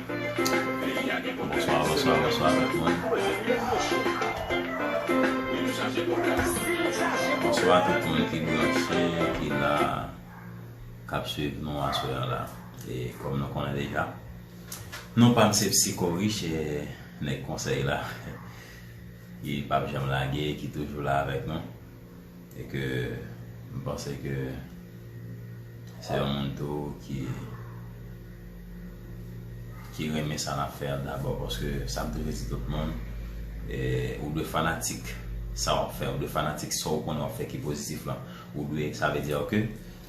Bonswa bonswa bonswa tout moun Bonswa tout moun ki branche ki la kap swiv nou aswè an la e kòm nou konnen deja non pam se psiko rich e nèg konsèy la ki pap janm lage ki toujou la avèk nou. e ke m panse ke se yon moun tou ki ki renmen sa nap fè a dabò paske sa m toujou di tout moun e ou dwe fanatik sa wap fè, ou dwe fanatik sa ou konnen wap fè ki pozitif lan ou dwe sa vle diyo ke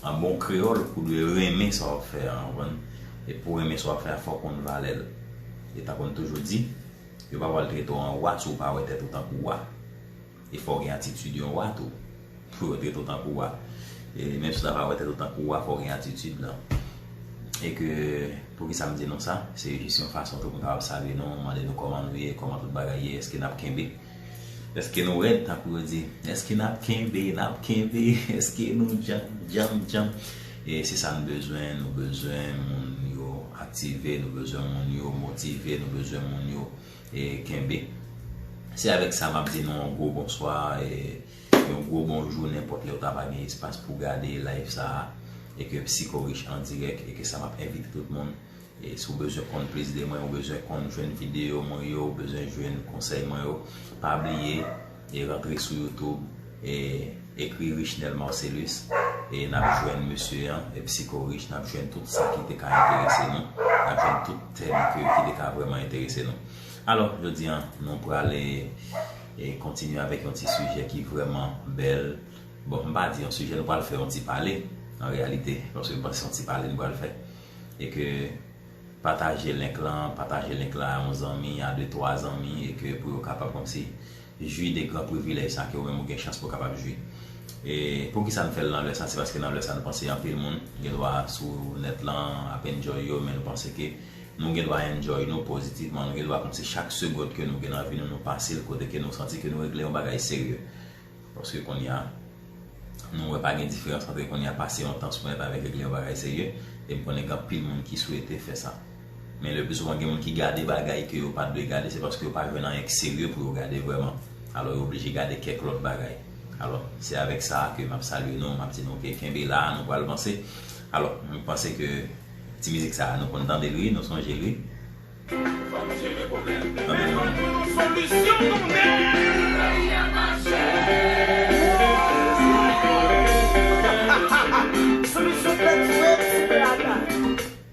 an bon kreyòl ou dwe renmen sa wap fè an ou konprann e pou renmen sa wap fè a fò w konn valè l e tankou m toujou di yo pa pral trete w an wa si w pa wè tèt ou tankou wa. E fò w gen atitid yon wa tou. Pou yo trete w tankou wa. E menm si w ta pa wè tèt ou tankou wa, fò w gen atitid lan. E ke, poukisa m di nou sa? Se jis yon fason tou pou m kapab salye nou, mande nou kòman nou ye, kòman tout bagay ye, èske n ap kenbe? Èske nou rèd tankou yo di? Èske n ap kenbe, n ap kenbe? Èske nou djanm, djanm, djanm? E se sa n bezwen, nou bezwen moun yo aktive, nou bezwen moun yo motive, nou bezwen moun yo. E kenbe. Se avèk sa map di nou yon gwo bonswa e yon gwo bonjou nenpòt lèw ta va gen espas pou gade live sa a e ke psikorich an dirèk e ke sa map envite tout moun e si w bezwen konn plis de mwen ou bezwen konn jwenn videyo mwen yo ou bezwen jwenn konsèy mwen yo pa bliye E rantre sou youtube e ekri richnel marcelus e nap jwenn mesye an e psiko rich nap jwenn tout sa ki te ka enterese nou nap jwenn tout tèm ke ki te ka vrèman enterese nou alò jodi an nou prale e kontinye avèk yon ti sijè ki vrèman bèl bon m pa di yon sijè nou pral fè yon ti pale an reyalite paske m panse se yon ti pale nou pral fè e ke Pataje link lan, pataje link lan a yon zanmi, a 2, 3 zanmi e ke pou yo kapab kòmsi jwi de gran privilèj sa ke ou menm ou gen chans pou kapab jwi. E poukisa nou fè l nan lè sa, se paske nan lè sa nou panse anpil moun gen dwa sou nèt lan ap enjoy yo men nou panse ke nou gen dwa enjoy nou pozitivman, nou gen dwa kòmsi chak segond ke nou gen nan vi nou, nou pase l kote ke nou santi ke nou regle yon bagay serye. Paske kounye a, nou wè pa gen diferans antre kounye a pase yon tan sou nèt avèk ekri yon bagay serye, e m konnen gen anpil moun ki swete fè sa. Men lepli souvan gen moun ki gade bagay ke yo pa t dwe gade, se paske yo pa jwenn anyen ki serye pou yo gade vrèman. Alò yo oblije gade kèk lòt bagay. Alò, se avèk sa a ke m ap salye nou, m ap di nou ke kenbe la, nou pral vanse. Alò, m panse ke ti mizik sa a nou konn tande l wi, nou sonje l wi.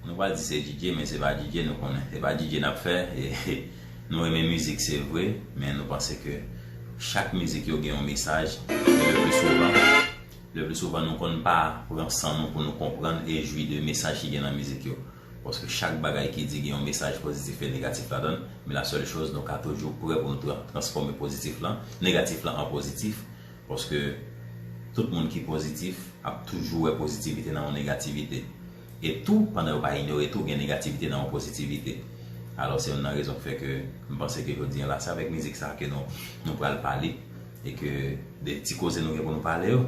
Nou pa di se DJ men se pa DJ nou konnen se pa DJ nap fè nou renmen mizik se vre men nou panse ke chak mizik yo gen yon mesaj e le pli souvan le pli souvan nou konn pa pran san nou pou nou konprann e jwi de mesaj ki gen nan mizik yo Paske chak bagay ki di gen yon mesaj pozitif e negatif ladan l, men la sèl choz nou ka toujou prè pou nou transfòme pozitif lan, negatif lan an pozitif, paske tout moun ki pozitif ap toujou wè pozitivite nan yon negativite. E tou, pandan yo pa inyore tou gen negativite nan yon pozitivite. Alò se youn nan rezon k fè ke m panse ke jodi an la se avèk mizik sa ke nou pral pale e ke de ti koze nou gen pou nou pale yo,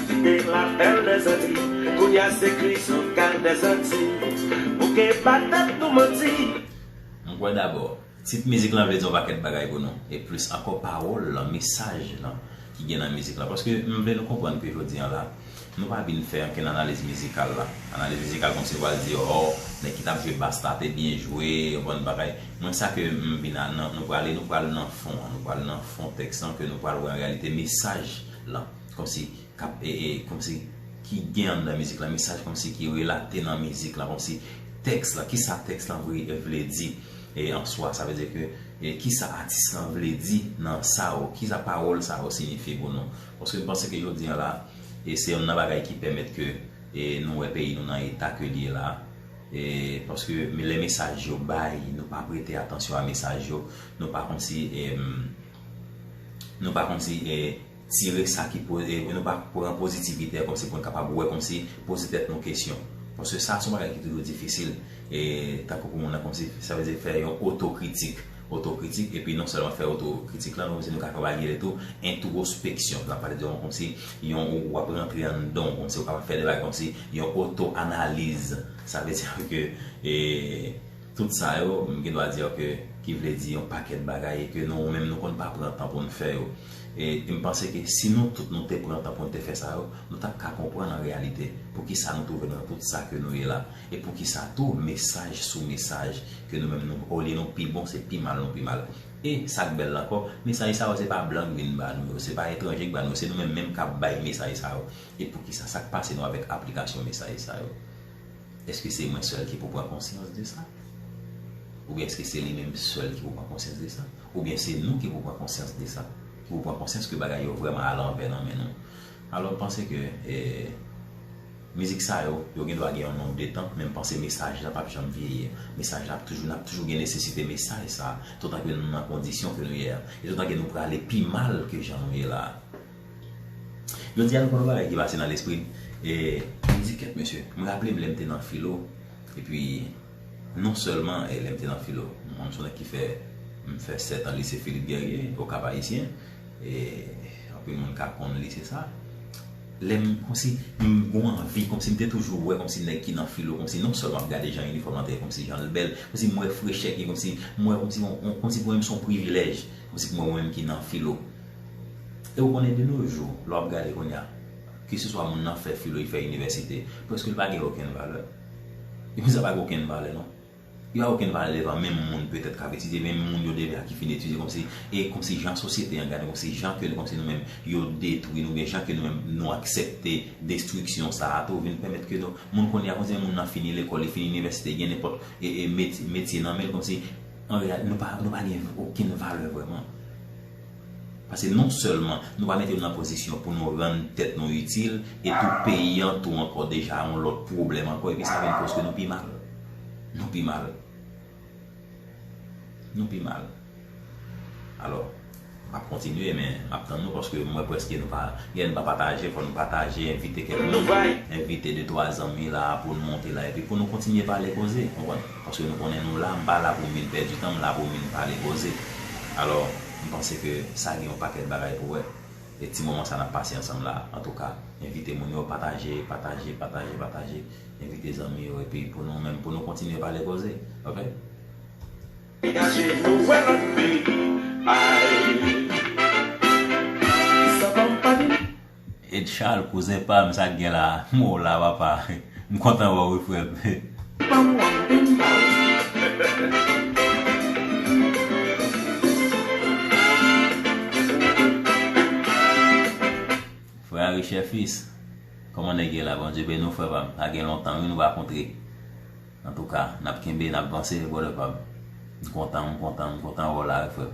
Kite lapèl mezanmi Kounya se krizon kay mezanti Bouke pa tèt nou manti. M kwè dabò, tit mizik lan vle di yon pakèt bagay pou nou, e plis ankò pawòl lan, mesaj lan ki gen nan mizik lan. Paske m vle nou konprann ke jodi an la, nou pa vin fè ankenn analiz mizikal la. Analiz mizikal kòmsi nou pral di ò, nèg ki t ap jwe bass la te byen jwe, yon bann bagay. Mwen sa ke m vin a, nan nou prale, nou pral nan fon an, nou pral nan fon tèks lan ke nou pral wè an reyalite mesaj lan. Kòmsi kap kòmsi ki gen anndan mizik la mesaj kòmsi ki relate nan mizik la kòmsi tèks la kisa tèks la vle di e an swa sa vle di ke e kisa atis lan vle di nan sa yo kisa pawòl sa yo signifye pou nou paske m panse ke jodi an la e se yonn nan bagay ki pèmèt ke e nou wè peyi nou nan eta ke l ye la e paske me lè mesaj yo bay nou pa prete atansyon a mesaj yo nou pa kòmsi e nou pa kòmsi e tire sa ki po e nou pa pran pozitivite a kòmsi pou n kapab wè kòmsi poze tèt nou kesyon paske sa se yon bagay ki toujou difisil e tankou pou moun nan kòmsi sa vle di fè yon otokritik otokritik epi non sèlman fè otokritik la nou di nou ka kapab di tou entwospeksyon n ap pale de yon kòmsi yon ou ap rantre anndan w kòmsi ou kapab fè de bagay kòmsi yon otoanaliz sa vle di ke e. Tout sa yo, m gen dwa di w ke ki vle di yon pakèt bagay e ke nou menm nou konn pa pran tan pou n fè yo. E m panse ke si nou tout nou te pran tan pou n te fè sa yo, nou t ap ka konprann an reyalite poukisa nou twouve nou nan tout sa ke nou ye la e poukisa tou mesaj sou mesaj ke nou menm nou olye nou pi bon se pi mal nou pi mal. E sa k bèl la ankò, mesaj sa yo se pa blan k vin ba nou yo, se pa etranje k ba nou yo, se nou menm menm k ap bay mesaj sa yo. E poukisa, sa k pase nou avèk aplikasyon mesaj sa yo? Eske se mwen sèl ki pou pran konsyans de sa? Oubyen eske se li menm sèl ki pou pran konsyans de sa? Oubyen se nou ki pou pran konsyans de sa? Ki pou pran konsyans ke bagay yo vrèman alanvè nan men nou? Alò m panse ke mizik sa yo, yo gen dwa gen yon nonb de tan, men m panse mesaj la pap janm vyeyi. Mesaj la ap toujou, n ap toujou gen nesesite mesaj sa a, toutan ke nou nan kondisyon ke nou ye a. E toutan ke nou prale pi mal ke jan nou ye la a. Jodi a nou konn yon bagay ki pase nan lespri m, e m di kèt mesye, m raple m lè m te nan filo, e pi non sèlman lè m te nan filo, m son nèg ki fè, m fè 7 an lise Philippe Guerrier, au Cap Haïtien, e anpil moun ka konn lise sa, lè m konsi, m gon anvi, konsi m te toujou wè konsi nèg ki nan filo, konsi non sèlman m gade jan inifòm lan te ye, konsi jan l bèl, konsi m wè frechè ki, konsi m wè konsi, konsi pou mwen m son privilèj, konsi pou mwen mwen menm ki nan filo. E ou konnen de nos jours, lè wap gade kounye a, ke se swa moun nan fè filo, li fè inivèsite, prèske li pa gen okenn valè. E moun sa pa gen okenn valè non. Li pa okenn valè devan menm moun petèt kap etidye, menm moun yo deja ki fin etidye kòmsi, e kòmsi jan sosyete an gade nou, kòmsi jan ke nou, kòmsi nou menm yo detwi nou, oubyen jan ke nou menm nou aksepte destriksyon sa a tou vin pèmèt ke nou, moun kounye a kòmsi menm moun nan fini lekòl, li fini inivèsite, li gen nenpòt e e metye nan men l kòmsi an reyalite nou pa nou pa gen okenn valè vrèman. Pase non sèlman nou pa mete nou nan pozisyon pou nou rann tèt nou itil, e tou peyi an tou ankò deja yon lòt pwoblèm ankò epi sa vin koz ke nou pi mal. Nou pi mal. Nou pi mal. Alò, m ap kontinye men m ap tann nou paske m wè prèske nou pa gen lè nou pa pataje, fò nou pataje, envite kèk moun, envite de twa zanmi la pou nou monte la epi pou nou kontinye pale koze, konprann? Paske nou konnen nou la, m pa la pou m vin pèdi tan, m la pou m vin pale koze. Alò, m panse ke sa gen yon pakèt bagay pou wè. E ti moman sa n ap pase ansanm la, antouka, envite moun yo, pataje, pataje, pataje, pataje, envite zanmi yo, epi pou nou menm, pou nou kontinye pale koze. Ok? Edchal kouzen pam sak gen la m wè w la papa m kontan wè w wi frè m. Banm la beni pa ou frè. Frè a richè fils Koman nèg ye la Bondye beni w frè pam sa gen lontan wi nou pa kontre antouka nap kenbe nap vanse brother pam m kontan m kontan m kontan wè w la wi frè m.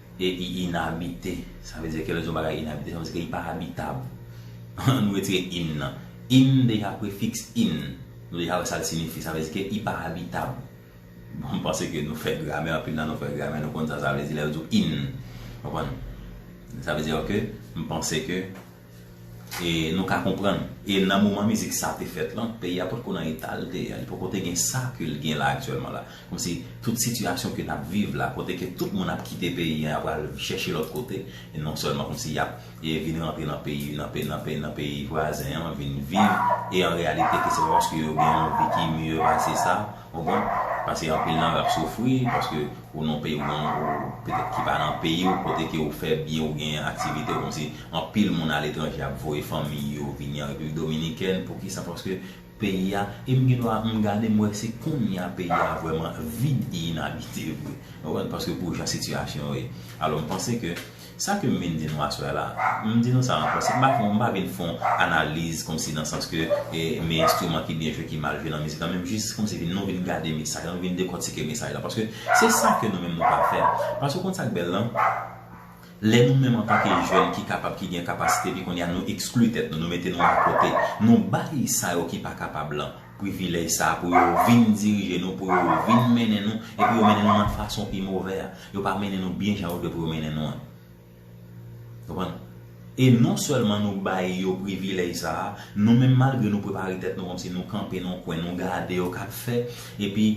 E i inabite. Sa vle di ke lè nou di yon bagay inabite, sa vle di ke li pa abitab. An nou retire in nan. In deja prefiks in. Nou deja wè sa l sinifi. Sa vle di ke i pa abitab. Bon, m panse ke nou fè gramè, anpil nan nou fè gramè, nou konn sa sa vle di lè yo di w in. Konprann? Sa vle di ke m panse ke. E nou ka konprann. E nan moman mizik sa te fèt lan, peyi a potko nan eta l te ye a. Li poko te gen sa ke l gen la aktyèlman la. Kòmsi tout sitiyasyon ke n ap viv la, kote ke tout moun ap kite peyi an, y ap al chèche lòt kote, e non sèlman kòmsi y ap vin rantre nan peyi nan peyi vwazen an, vin viv, e an reyalite ke se pa paske yo gen yon vi ki mye pase sa, Ou konprann? Pase anpil nan yo ap soufri paske ou nan peyi ou nan petèt ki pa nan peyi ou kote ke ou fè byen ou gen aktivite ou kòmsi anpil moun aletranje ap voye fanmi yo vini an Repiblik Dominikèn poukisa paske peyi a e m gendwa m gade m wè se kounye a peyi a vrèman vid e inabite vre ou konprann paske pou jan sitiyasyon yo ye alò m panse ke Sa ke m vin di nou aswè a la, m di nou sa ankò, se pa pou m pa vin fè yon analiz kòmsi nan sans ke me enstriman ki byen jwe, ki mal jwe nan mizik lan, men m jis kòmsi vin nou vin gade mesaj lan, nou vin dekòtike mesaj lan, paske se sa ke nou menm nou pa fè. Paske ou konn sa k bèl lan, lè nou menm antanke jèn ki kapab, ki gen kapasite, epi kounye a nou ekskli tèt nou, nou mete nou akote, nou bay sa yo ki pa kapab lan, privilèj sa a pou yo vin dirije nou, pou yo vin mennen nou, epi yo mennen nou nan fason ki movè a. Yo pa mennen nou byen jan yo dwe pou yo mennen nou an. Konprann? E non sèlman nou bay yo privilèj sa a, nou menm malgre nou prepare tèt nou kòmsi nou kanpe nan yon kwen nou gade yo k ap fè, epi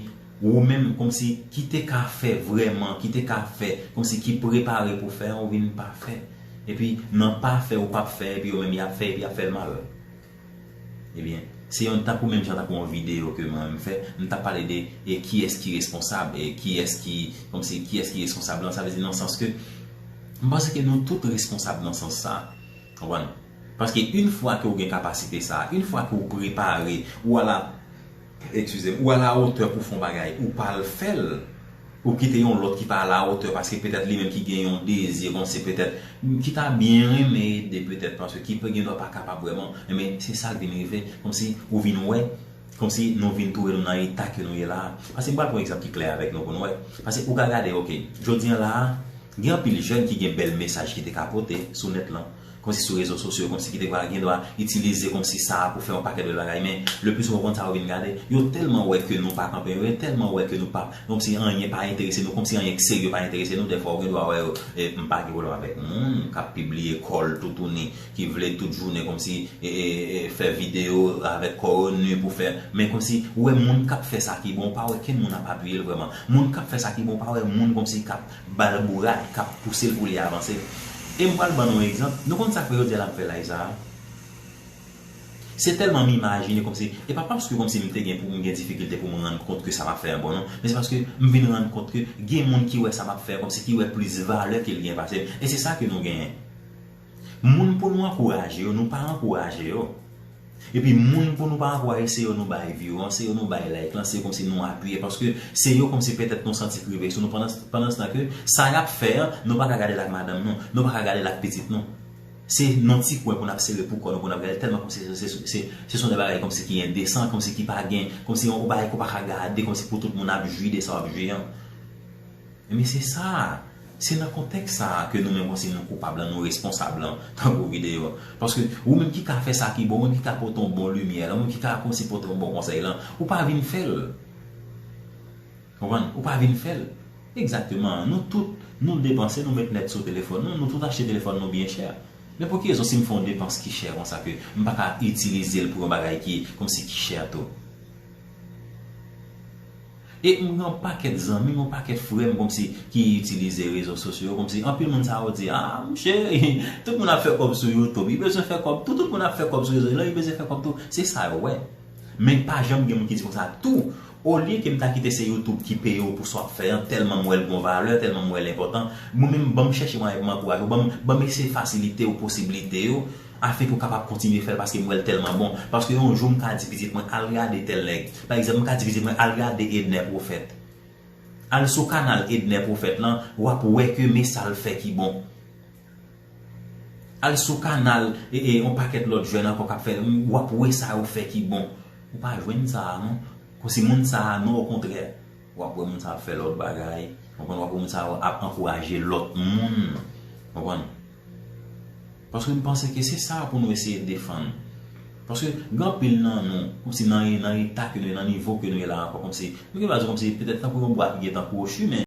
ou menm kòmsi ki te ka fè vrèman, ki te ka fè, kòmsi ki prepare pou fè an ou vin pa fè. Epi nan pa fè ou p ap fè epi yo menm y ap fè epi y ap fè l mal. Ebyen, se yon tankou menm jan tankou yon videyo ke mwen menm fè, m ta pale de e kiyès ki responsab, e kiyès ki, kòmsi kiyès ki responsab lan, sa vle di nan sans ke m panse ke nou tout responsab nan sans sa. Konprann? Paske yn fwa ke ou gen kapasite sa, yn fwa ke ou prepare, ou ala. Ekskizem ou ala otè pou fon bagay ou pa al fèl ou kite yon lòt ki pa ala otè paske petèt li menm ki gen yon dezi konsi petèt ki ta byen renmen ede petèt paske ki gen dwa pa kapab vrèman enben se sak vin rive konsi ou vin wè konsi nou vin twouve nou nan eta ke nou ye la paske m pral pran egzanp ki klè avèk nou pou nou wè paske ou ka gade ok jodi an la gen anpil jèn ki gen bèl mesaj ki te ka pote sou nèt lan Konsi sou rezo sosyo, konsi ki te pral gendwa itilize konsi sa a pou fè yon pakèt bèl bagay men le pli souvan konta yo vin gade, yo tèlman wè ke nou pa kanpe yon, yo tèlman wè ke nou pa konmsi anyen pa enterese nou, konmsi anyen k serye pa enterese nou, dèfwa ou gendwa wè yo e m pa gen pwoblèm avèk moun k ap pibliye kò l toutouni, ki vle tout jounen konmsi e e e fè videyo avèk kò yo nu pou fè men konmsi ou wè moun k ap fè sa ki bon ou pa wè kenn moun ap apiye l vrèman moun k ap fè sa ki bon ou pa wè moun konmsi k ap Bal bourad k ap pouse l pou li avanse. E m pral ban nou yon egzanp. Nou konn sa k fè yo di l ap fè laj sa a? Se tèlman m imajine kòmsi, e pa paske kòmsi m te gen pou m gen difikilte pou m rann kont ke sa m ap fè a bon non, men se paske m vin rann kont ke gen moun ki wè sa m ap fè a kòmsi ki wè plis valè ke l gen pase m. E se sa ke nou genyen. Moun pou nou ankouraje yo nou pa ankouraje yo epi moun pou nou pa ankouraje se yo nou bay view an se yo nou bay like lan se komsi nou apiye paske se yo komsi petèt nou santi k rive sou nou pandanstan ke sa yap fè an nou paka gadel ak madanm nou nou paka gadel ak pitit nou se nan ti kwen pou nap sere pou kò nou pou nap gadel tèlman komsi se son de bagay komsi ki endesan komsi ki pa gen komsi yon bagay ke w paka gade komsi pou tout moun ap jwi de sa wap jwi an. Enben se sa a! Se nan kontèks sa a ke nou menm panse nou koupab lan, nou responsab lan, tankou videyo a. Paske, ou menm ki ka fè sa ki bon, ou menm ki ka pote yon bon limyè lan, ou menm ki ka kòmanse pote yon bon konsèy lan, ou pa vin fè l. Konprann? Ou pa vin fè l. Egzakteman. Nou tout, nou depanse, nou met nèt sou telefòn nou, nou tout achte telefòn nou byen chè. Men pou ki rezon si m fè yon depans ki chè konsa ke m pa ka itilize l pou yon bagay ki, kòmsi, ki chè tou? E m gen yon pakèt zanmi m, yon pakèt frè m kòmsi ki itilize rezo sosyo yo kòmsi anpil moun sa yo di a mouche tout moun ap fè kòb sou youtube yo bezwen fè kòb tou, tout moun ap fè kòb sou rezo yo bezwen fè kòb tou se sa yo wè men pa janm gen moun ki di konsa tou olye ke m ta kite se youtube ki peye w pou sa w ap fè an tèlman m wè l gen yon valè tèlman m wè l enpòtan mwen menm ban m chèche mwayen pou m ankouraje w ban m eseye fasilite w posiblite yo. Afèt ou kapab kontinye fèl paske m wèl tèlman bon paske yon jou m ka di pitit mwen al gade tèl nèg pa egzanp m ka di pitit mwen al gade Edner Prophète al sou kanal Edner Prophète lan wap wè ke me sal fè ki bon al sou kanal yon pakèt lòt jèn ankò kap fè wap wè sa yo fè ki bon ou pa jwenn sa non si moun sa non okontrè W ap wè moun sa a ap fè lòt bagay. W konprann? W ap wè moun sa yo ap ankouraje lòt moun. W konprann? Paske m panse ke se sa pou nou eseye defann. Paske gen anpil nan nou, kòmsi nan eta ke nou ye, nan nivo ke nou ye la ankò, kòmsi, m gen dwa di kòmsi petèt tankou yon bwa ki gen tan kwochi men,